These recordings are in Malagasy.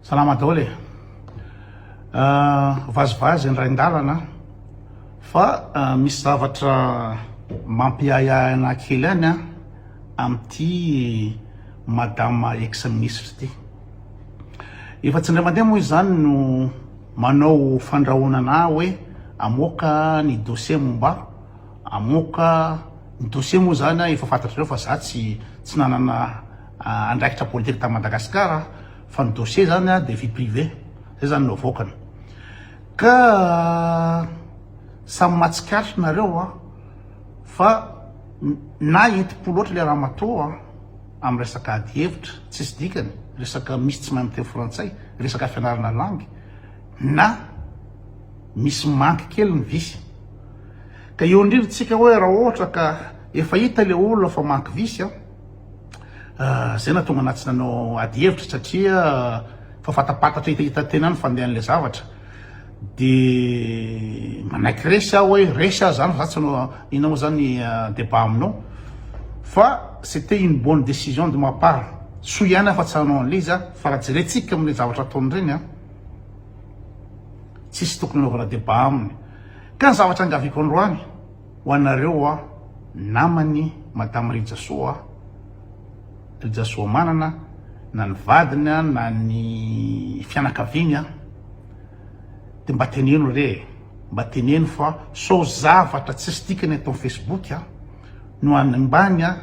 Salama daholo e! Vazivazy ny rain-dalana fa misy zavatra mampiahiahy anah kely any an, amin'ity madama ex ministra ity. Efa tsy indray mandeha moa izany no manao fandrahoana anah hoe amoaka ny dossier momba ahy, amoaka ny dossier moa izany an efa fantatrareo fa za tsy nanana. andraikitra politika tany Madagasikara fa ny dossier zany dia vie privée zay zany no avoakany ka samy mahatsikaritra nareo fa na enti-po loatra ilay ramatoa amin'ny resaka ady hevitra tsisy dikany resaka misy tsy mahay miteny frantsay resaka fianarana langue na misy manque kely ny visy ka eo indrindra tsika hoe raha ohatra ka efa hita ilay olona fa manque visy Izay nahatonga anà tsy nanao ady hevitra satria efa fatapatatra hita hita tena ny fandehan'ilay zavatra. Dia manaiky resy aho hoe resy aho zany fa za tsy hanao inona moa zany débat aminao. Fa c'était une bonne décision de ma part. Soa ihany aho fa tsy hanao an'ilay izy fa raha jerentsika amin'ireny zavatra ataony ireny a, tsisy tokony hanaovana débat aminy. Ka ny zavatra angaviako androany Ho anareo a namany madame Rijasoa a, Rijasoamanana, na ny vadiny a, na ny fianakaviany a, de mba teneno re e, mba teneno fa sao zavatra tsisy dikany eto am Facebook a no hanimbany a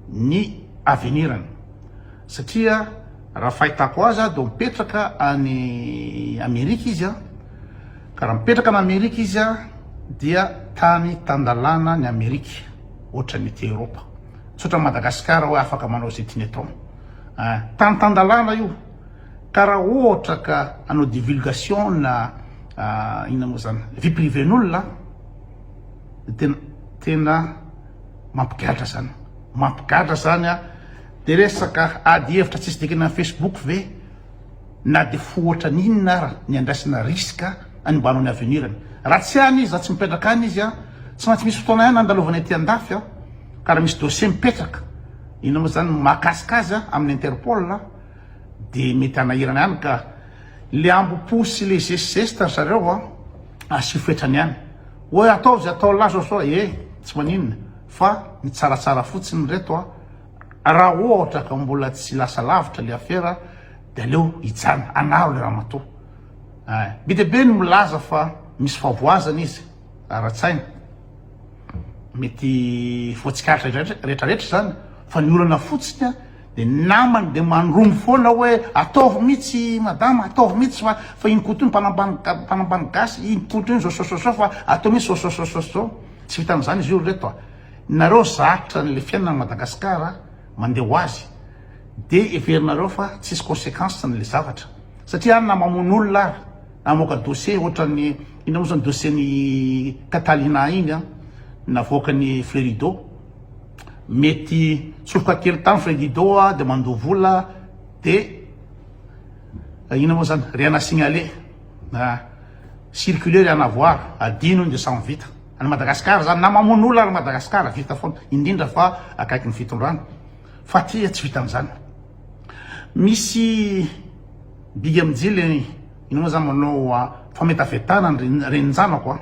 ny avenirany, satria raha fahitako azy a de mipetraka any Amerika izy a, Ka raha mipetraka any Amerika izy dia tany tan-dalàna ny Amerika ohatra ny ety Eoropa. Tsy ohatra an'i Madagasikara hoe afaka manao izay tiany atao. Ein, tany tan-dalàna io. Ka raha ohatra ka hanao divulgation na inona moa izany, vie privée-n'olona dia tena tena mampigadra izany. Mampigadra izany an! Dia resaka ady hevitra tsisy dikany amin'ny Facebook ve? Na dia fo ohatran inona ara ny andraisana risque any mba hanao ny avenir ny. Raha tsy any izy, raha tsy mipetraka any izy an, tsy maintsy misy fotoana ihany andalovany aty andafy an, ka raha misy dossier mipetraka, inona moa izany, mahakasika azy an, amin'ny interpol an, dia mety hanahirana ihany ka. Le ambo-po sy le zesizesta ry zareo an, asio fetrany ihany. Oe ataovy atao lazo sao e, tsy maninona, fa ny tsaratsara fotsiny reto an. Raha ohatra ka mbola tsy lasa lavitra le afera de aleo hijanona anaro le ramatoa eh. Be dia be ny milaza fa misy favoazana izy ara-tsaina. Mety voatsikaritra retraretra izany fa ny olana fotsiny de ny namany de mandromo foana hoe ataovy mitsy madama ataovy mitsy fa fa iny koto iny mpanambany mpanambany gasy iny koto iny zao zao zao zao fa atao mitsy zao zao zao zao zao. Tsy vitan'izany izy io ry reto a. Nareo zatra anle fiainana any Madagascar mande ho azy de everinareo fa tsisy consequence ny le zavatra satria any na mamono olona ary na mamoaka dossier otrany inona mo zany dossier ny Catalina iny an navoakany Frerido mety soroka kely tany Frerido de mandoa vola de inona mo zany rien à signaler circuler rien à voir adino iny de samy vita. Any Madagascar zany na mamono olona ary Madagascar vita foana indrindra fa akaiky ny fitondrana fa aty tsy vita an'izany misy big mijily ino moa zany manao ah, fametafetana ny reninjanako ah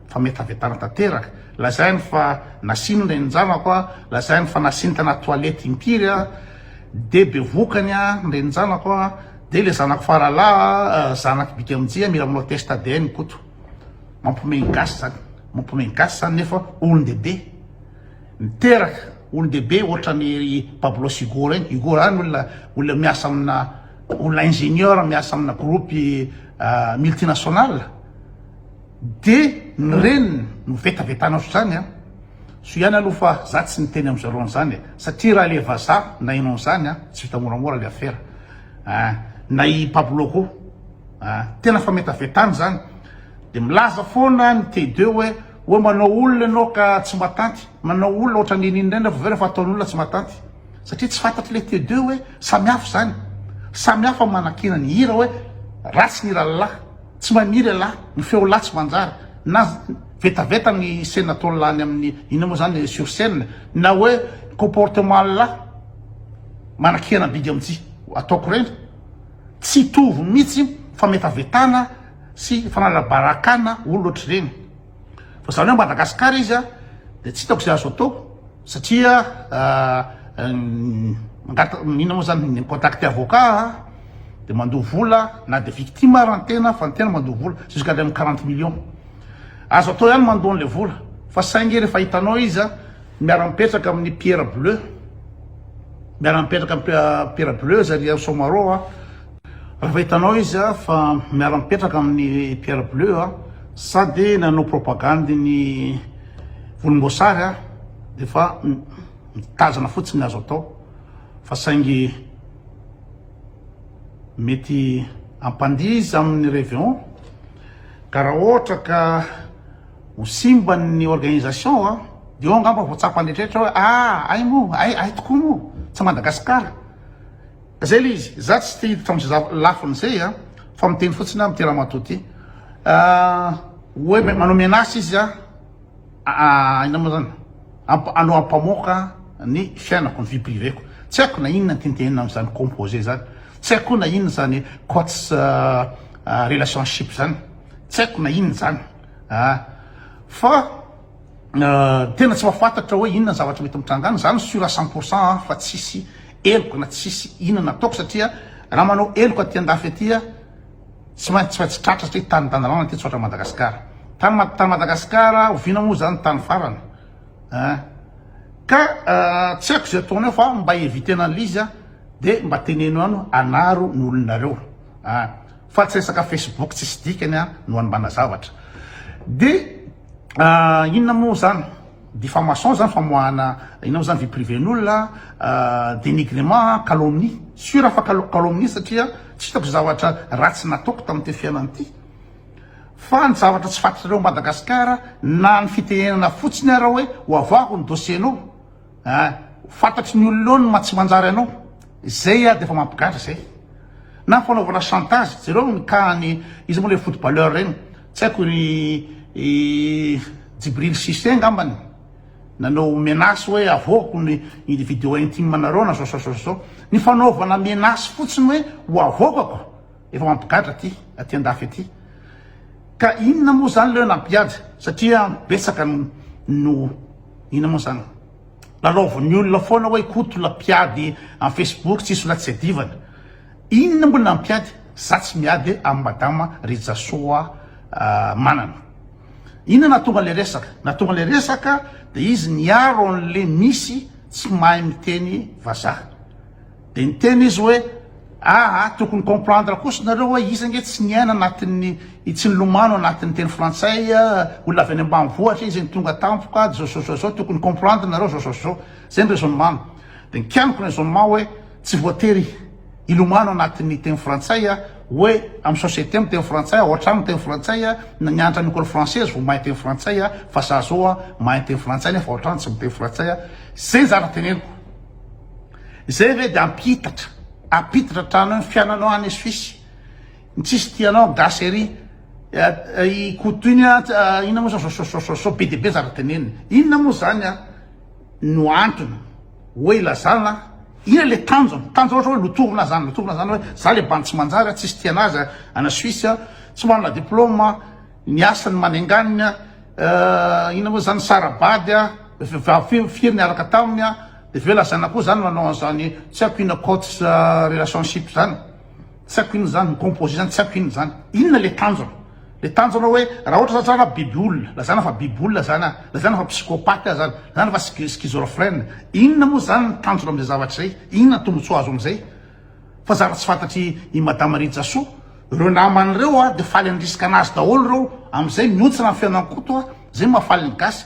fametafetana tanteraka lazainy fa nasiny reninjanako ah lazainy fa nasiny tana toilette impiry ah de be vokany ah ny reninjanako ah de le zanako faralahy ah, zanaky big mijia mila manao test ADN koto Mampiomehy ny gasy zany, mampiomehy ny gasy zany nefa olon-dehibe miteraka, olon-dehibe ohatran'i ry Pablo sy Hugo reny, Hugo zany olona olona miasa amina olona ingénieur miasa amina groupe multinational de ny reniny no vetavetana ohatr'izany an, soa ihany aloha fa za tsy niteny amin'izy roa an'izany e, satria raha le vazaha nahaino an'izany an, tsy vita moramora le afera, na i Pablo koa. Tena fametavetana izany. Dia milaza foana ny TD hoe hoe manao olona ianao ka tsy matanty, manao olona ohatran'ny iny iny indray nefa avy eo rehefa ataon'olona tsy matanty. Satria tsy fantatr'ilay TD hoe samy hafa izany. Samy hafa ny manakiana ny hira hoe ratsy ny hiran'ny lahy, tsy mahay mihira ialahy, ny feo lahy tsy manjary, na vetaveta ny scène ataon'ny lahy any amin'ny inona moa izany sur scène, na hoe comportement ny lahy manakiana bidy amin'ity ataoko ireny. Tsy hitovy mihitsy fametavetana sy fanalabarakana olona ohatr'ireny. Fa izany hoe Madagascar izy dia tsy hitako izay azo atao satria inona moa izany ny mi-contacter avocat dia mandoa vola na dia victime ary ny tena fa ny tena mandoa vola jusqu'à ilay amin'ny quarante millions. Azo atao ihany mandoa an'ilay vola fa saingy rehefa hitanao izy miara-mipetraka amin'ny pierre bleu. Miara mipetraka amin'ny Pierre Bleus ry Hery Somarô a! Raha fahitanao izy a fa miara mipetraka amin'ny Pierre Bleus a, sady nanao propagandy ny volomboasary a, dia efa mitazana fotsiny ny azo atao fa saingy mety hampandihy izy amin'ny Reveon ka raha ohatra ka Ho simba ny organisation a! Dia eo angamba vao tsapan'ny rehetra hoe ah! Hay moa, hay, hay tokoa moa! Tsy Madagascar! Zay le izy! Za tsy te hiditra am'zay zava, lafiny zay a! Fa miteny fotsiny aho amin'ity ramatoa ty ah! Hoe manao menace izy a! ah! Inona moa zany? Amp, hanao ampamoaka ny fiainako, ny vie privée-ko! Tsy haiko na inona ny tintinina am'zany composé zany! Tsy haiko koa na inona zany quotes ah! Relationship zany! Tsy haiko na inona zany! a. Fa tena tsy mahafantatra hoe inona ny zavatra mety mitranga any, za ny sur à cent pour cent an fa tsisy heloka na tsisy inona ataoko satria raha manao heloka aty andafy aty a tsy maintsy tsy maintsy tratra satria tany tanindalana aty tsy ohatran'i Madagasikara, tany tany Madagasikara oviana moa zany ny tany farany a. Ka tsy haiko ze ataonao fa mba evitena an'le izy a de mba teneno anao anaro ny olonareo a. Fa tsy resaka Facebook tsisy dikany a no anmbana zavatra. De inona moa zany? Diffamation zany famoahana inona moa zany vie privée-n'olona, denigrement a, calomnie. Sur fa calomnie satria tsy hitako zavatra ratsy nataoko tamin'ity fiainana ity. Fa ny zavatra tsy fantatrareo Madagascar na ny fitenenana fotsiny ara hoe hoavaho ny dossier-nao. Ahh ho fantatry ny olona eo ny maha tsy manjary anao, zay ary dia efa mampigadra zay. Na fanaovana chantage, jereo ny cas an'i iza moa ilay footballeur ireny, tsy haiko ry Djibril Cissé angambany, nanao menace hoe avoako ny vidéo intime nareo na zao sa zao sa zao, ny fanaovana menace fotsiny hoe ho avoakako, Efa mampigadra aty aty andafy aty ka inona moa zany leo nampigadra satria betsaka no inona moa zany lalaovin'ny olona foana hoe koto la mpiady am facebook tsisy la tsy adivana inona moa nampiady za tsy miady am madama rijasoa manana inona nahatonga le resaka nahatonga le resaka de izy niaro an'le misy tsy mahay miteny vazaha Dia niteny izy hoe, Ah ah, tokony comprendre kosa nareo hoe izy ange tsy niaina anatin'ny, tsy nilomano anatin'ny teny frantsay, olona avy any ambanivohitra izy, tonga tampoka, zao zao zao zao, tokony comprendre nareo zao zao zao. Zay ny raisonnement-ny. Dia nikianiko ny raisonnement hoe, tsy voatery hilomano anatin'ny teny frantsay hoe amin'ny société miteny frantsay, ao an-trano miteny frantsay, na nianatra any école française vao mahay miteny frantsay, fa za zao mahay miteny frantsay nefa ao an-trano tsy miteny frantsay. Zay ny zavatra teneniko. Izay ve dia ampihitatra, ampitatra hatrany ny fiananao any Suisse? Ny tsisy tia anao gasy ery. I Koto iny inona moa zany sososososo be dia be zara teneniny. Inona moa zany no antony hoe ilazana inona le tanjona? Tanjona ohatra hoe lotorina zany, lotorina zany hoe za le bandy tsy manjary, tsisy tia anazy any Suisse, tsy manana diploma, ny asany manenganina, inona moa zany sara-bady, vehivavy firy niaraka taminy. Dia ve lazaina koa zany manao an'izany tsy haiko inona cotes relationship zany? Tsy haiko inona zany, mi-composer zany tsy haiko inona zany? Inona le tanjona? Le tanjona hoe raha ohatra zany zana biby olona, lazaina fa biby olona zany aho, lazaina fa psychopathe aho zany, lazaina fa schi- schizorphrène, inona moa zany ny tanjona amin'izay zavatra izay? Inona ny tombontsoa azo amin'izay? Fa zara tsy fantatry i Madame Rijasoa. Ireo namany ireo dia faly handrisika anazy daholo ireo, amin'izay mihontsina ny fihaonan'i Koto, izay no mahafaly ny gasy.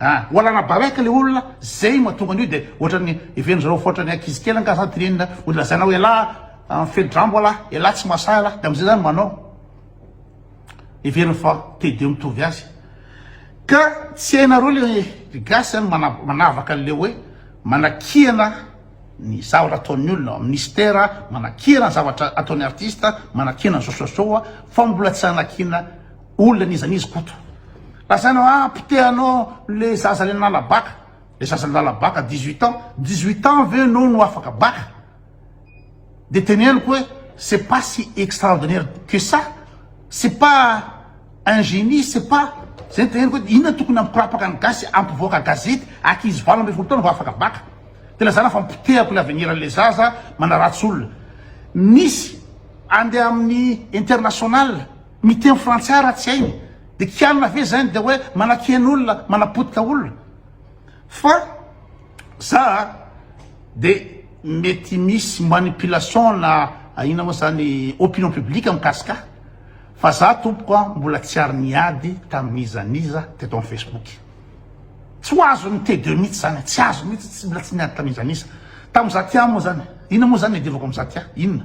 ah ho alana balèque le olona zay mahatonga an'io de ohatran'ny heverin-dry zareo fa ohatran'ny ankizy kely angaha zany tenenina ho lazaina hoe elah ah mifehi-drambo alah elah tsy mahasahy alah de am'zay zany manao heveriny fa te de mitovy azy ka tsy hainareo le ry gasy zany mana- manavaka an'le hoe manakihana ny zavatra ataon'ny olona amin'ny mystère manakihana ny zavatra ataon'ny artiste manakihana zao sy zao fa mbola tsy anakihana Olona n'iza n'iza Koto. Lazaina hoa potehanao le zaza le nanala bac. Le zaza nanala bac à dix huit ans. Dix huit ans ve enao no afaka bac? De teneniko hoe c'est pas si extraordinaire que ça. C'est pas un génie, c'est pas Zay no teneniko hoe inona no tokony hampikorapaka ny gasy hampivoaka gazety ankizy valo ambin'ny folo taona vao afaka bac. De lazaina fa mipotehako le avenir an'le zaza manaratsy olona. Misy andeha amin'ny international. Miteny frantsay raha tsy hainy de kianina ve zany de hoe manakena olona manapotika olona fa za de mety misy manipulation na ahiana moa zany opinion publique mikasika ahy fa za tompoko a mbola tsy ary niady tamin'iza n'iza teto am facebook tsy ho azon'ny td mihitsy zany tsy azo mihitsy tsy mbola tsy niady tamin'iza n'iza tamin'iza ty aho moa zany inona moa zany niadivako amin'iza ty aho inona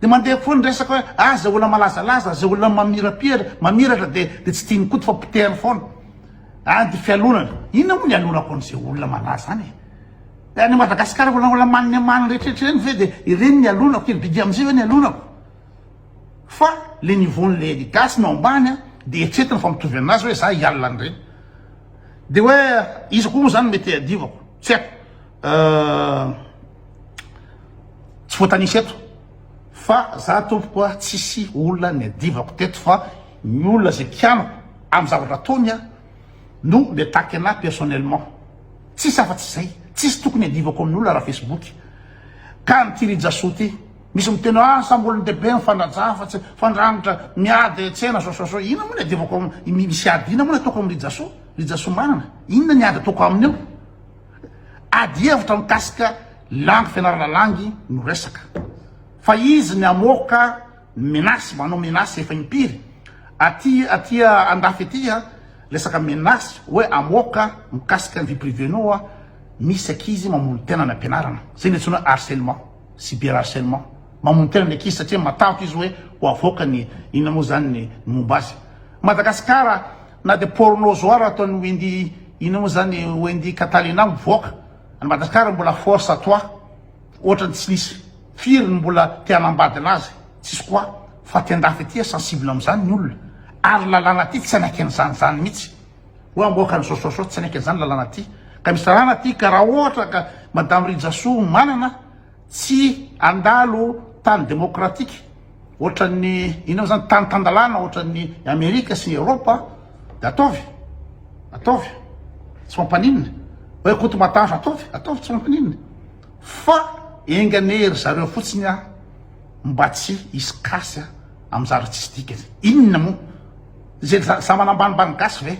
Dia mandeha foana ny resaka hoe ah izay olona malazalaza, izay olona mamirapira, mamiratra dia dia tsy tian'i Koto fa potehany foana. Any dia fialonana. Inona moa ny ialonako an'izay olona malaza any e? Dia any Madagasikara olona olona manina manina rehetrarehetra ireny ve dia ireny ny ialonako? Ry Bidia amin'izay ve ny ialonako? Fa le niveau-n'ilay ny gasy no ambany a, dia eritreretina fa mitovy aminazy hoe za hialona an'ireny. Dia hoe iza koa moa izany mety hiadivako? Tsy haiko. tsy voatanisa eto fa za tompoko a tsisy olona ny adivako teto fa ny olona zay kianako am zavatra ataony a no mi attaque anah personnellement tsisy afa tsy zay tsisy tokony adivako amin' olona raha facebook ka an' ity rijaso ty misy miteny hoe asa am olon dehibe ny fanajana fa tsy fandrangitra miady tsena zao zao zao inona moa ny adivako am misy ady inona moa ny ataoko am rijaso rijaso manana inona ny ady ataoko aminy eo Ady hevitra mikasika langue fianarana langue no resaka. Fa izy ny hamoaka ny menace manao menace efa impiry aty aty andafy aty a resaka menace hoe hamoaka mikasika ny vie privée nao a misy ankizy mamono tena any ampianarana zay ny antsoina hoe harcelement cyber harcelement mamono tena ny ankizy satria matahotra izy hoe ho avoaka ny inona moa zany ny momba azy Madagasikara Na dia porno zoar ataon'i Wendy ino mo zany Wendy Catalina mivoaka any Madagascar mbola force à toi otrany tsy nisy firy ny mbola te hanambadina azy tsisy quoi fa aty andafy aty sensible amzany ny olona ary lalàna aty tsy hanaiky anzany zany mitsy oe amboaka ny sosoa soa tsy hanaiky anzany lalàna aty ka misy lalàna aty ka raha ohatra ka madame Rijasoa manana Tsy handalo tany demokratika ohatran'ny inona moa izany, tany tan-dalàna ohatran'ny Amerika sy ny Eoropa dia ataovy, ataovy, tsy mampaninona. Hoe Koto Matavy, ataovy, ataovy, tsy mampaninona. Fa enga anie ry zareo fotsiny mba tsy hisy casse amin'ny zavatra tsisy dikany. Inona moa? Izay zama-nambanimbany gasy ve?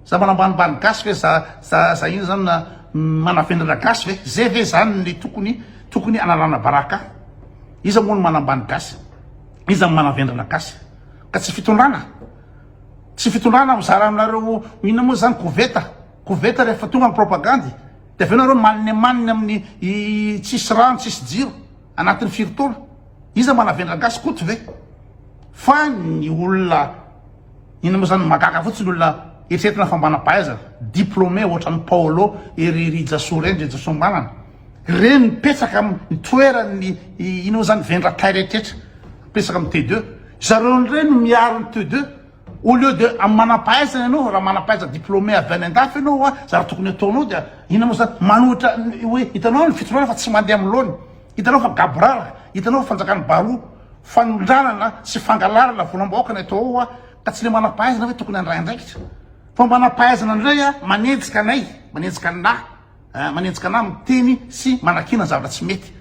Za mba nambanimbany gasy ve za za za ino zany na manafenina gasy ve ze ve zany ny tokony tokony analana baraka iza moa no manambany gasy iza no manavendrana gasy ka tsy fitondrana tsy fitondrana mizara aminareo inona moa zany koveta koveta rehefa tonga ny propagandy de avy eo nareo maniny maniny amin'ny i tsisy rano tsisy jiro anatin'ny firitoana iza manavendra gasy koto ve fa ny olona Inona moa zany magaga fotsiny olona eritreretina fa manampahaiza diplômé ohatran'i Paolo ery Rijasoa reny Rijasoa Manana reny mipetraka amin'ny toeran'ny inona moa zany vendratay rehetra mipetraka amin'ny T2 zareo indray no miaro ny T2 au lieu de amin'ny manampahaizana ianao raha manampahaiza diplômé avy any andafy ianao wa zara tokony ataonao dia inona moa zany manohitra hoe hitanao ny fitondrana fa tsy mandeha amin'ny laoniny hitanao fa gaborara hitanao fa fanjakan'ny baroa Fanondranana sy fangalarana volam-bahoaka no atao ao ka tsy le manam-pahaizana ve tokony handray andraikitra? Fa manam-pahaizana indray manenjika anay, manenjika anah, manenjika anah miteny sy manakiana zavatra tsy mety.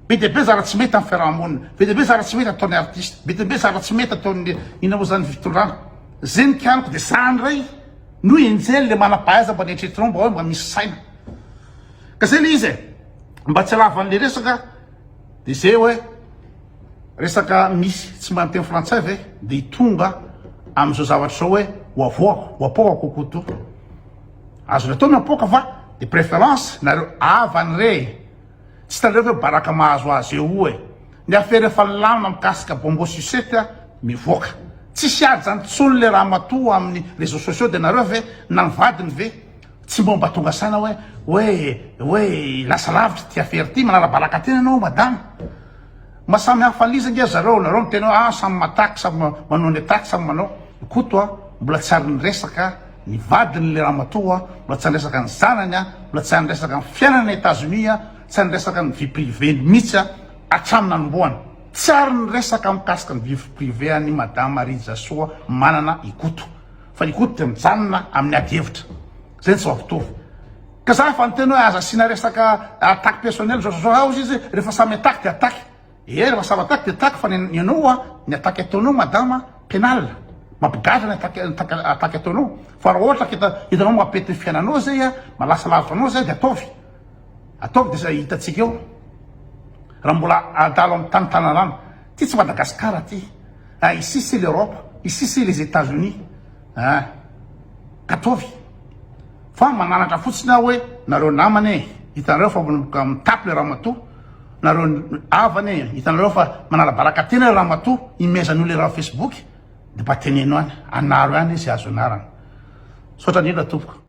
Be dia be zavatra tsy mety amin'ny fiaraha-monina, be dia be zavatra tsy mety ataon'ny artista, be dia be zavatra tsy mety ataon'ny inona moa zany fitondrana. Zay ny kianiko dia sahy handray no enjehin'ny le manam-pahaizana mba neritreretinao mba hoe mba misy saina. Ka zay le izy e, mba tsy halavan'le resaka. Dia zay hoe resaka misy tsy mba miteny frantsay ve dia tonga amin'izao zavatra izao hoe ho avoaka ho apoaka kokoto azony atao ny apoaka fa de préférence nareo havany re tsy hitanareo ve baraka mahazo azy eo e ny affaire efa lamina mikasika bongo sucette a mivoaka tsisy ady zany tsony le ramatoa amin'ny réseaux sociaux de nareo ve na ny vadiny ve Tsy mbô mba tonga saina hoe hoe hoe lasa lavitra ity affaire ity, manarabalaka tena ianao madama. Mba samy hafa an'iza ange zareo, nareo miteny hoe ah samy mataky, samy manao ny ataky, samy manao. I Koto a, mbola tsy ary niresaka ny vadiny le ramatoa, mbola tsy ary niresaka ny zanany a, mbola tsy ary niresaka ny fiainany any Etats-Unis a, tsy ary niresaka ny vie privée-ny mihitsy a, hatramin'ny nanombohany. Tsy ary niresaka mikasika ny vie privée an'i madama Rijasoa Manana i Koto. Fa io koa dia mijanona amin'ny ady hevitra. Izay no tsy voampitovo. Ka za efa niteny hoe aza asiana resaka attaque personnelle zao zao zao hozy izy rehefa samy attaque dia attaque. Ee rehefa samy attaque dia attaque fa ny anao a, ny attaque ataonao madama pénale. Mampigadra ny attaque attaque ataonao. Fa raha ohatra ka hitanao mampety ny fiainanao zay a, mahalasa lavitra anao zay dia ataovy. Ataovy dia hitantsika eo raha mbola adalo amin'ny tany tanarano. Ty tsy Madagascar ty ah ici c'est l'Europe ici c'est les Etats Unis ah ataovy fa mananatra fotsiny aho hoe nareo namana e hitanareo fa mitapy le ramatoa nareo havana e hitanareo fa manala baraka tena le ramatoa imezan'io le raha facebook de mba teneno any anaro ihany izy azo anarana misaotra indrindra tompoko